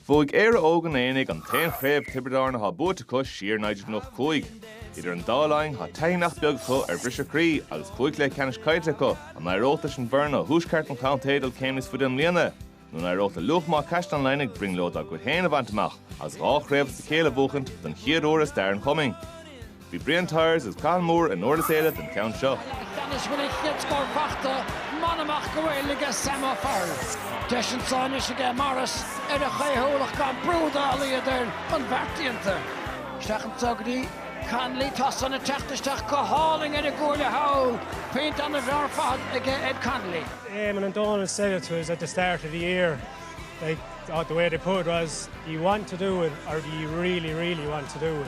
Bhuaigh Éire Óg an Aonaigh an t-aon chraobh Thiobraid Árann athá buaite acu siar i 1995. Idir an dá linn thá taithí nach beag acu ar bhriseadh croí agus cúig chluiche ceannais caillte acu. An éireodh leis an bhfoireann ó thuaisceart an chontae dul céim níos faide i mbliana? Nó an éireodh le Luachma Caisleán Laoighnigh brionglóid dá gcuid féin a bhaint amach agus dhá chraobh as a chéile a bhuachaint don chéad uair i stair an chumainn? Bhí Brian Tyers agus Cathal Moore i nDurlas Éile don cheann seo. Tiarnaisí Uíbh Eoghain mar bhachta, bain amach go fóill aige Sam O'Farrell. Deis anso anois aige Morris ar a chaothúlacht gan brú dá laghad air chun beart déanta. Isteach anso go dtí Connolly. Tá san ag teacht isteach go hálainn ar an gcuaille thall. Pointe ana-mhaith ar fad aige Ed Connolly. Éamonn and Dónal said it to us at the start of the year like the way they put it was do you want to do it or do you really, really want to do it.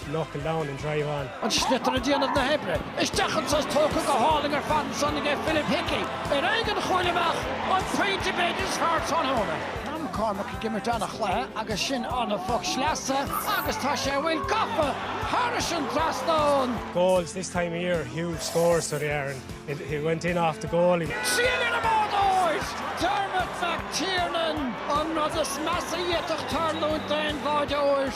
Knuckle down and drive on. An sliotar ag déanamh na hoibre. Isteach anso is tógtha go hálainn ar fad ansan aige Philip Hickey. Ar aghaidh an chúil amach an pointe b'fhéidir is fearr tráthnóna. Tá McCormack ag imirt an-chluiche agus sin ana-phoc sleasa agus tá sé a bhfuil gafa thairis an trasnán. Goals this time of year, huge scores so they are and it went in off the goalie. Trua don bháireoir! Dermot McTiernan, an rud is measa a d'fhéadfadh tarlúint d'aon bháireoir.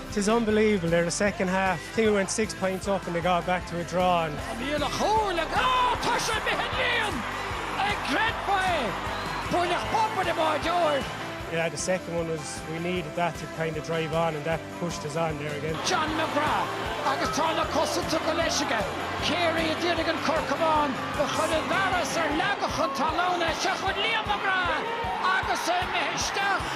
'Tis unbelievable, there the second half, I think we went six points up and they got back to a draw and. An líon a chúil ag á tá sé bheith líon ag gread ba é bhuail ach pápa de má deoir. Yeah, the second one was we needed that to kind of drive on and that pushed us on there again. John McGrath agus tá na cosanta go léir aige. Carey ag iarraidh an corcamán a chur i bhfearas air le gach an talún é seo chun Liam McGrath agus é imithe isteach.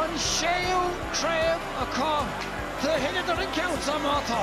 An séú craobh acu do thuilleadar an ceann san má tá.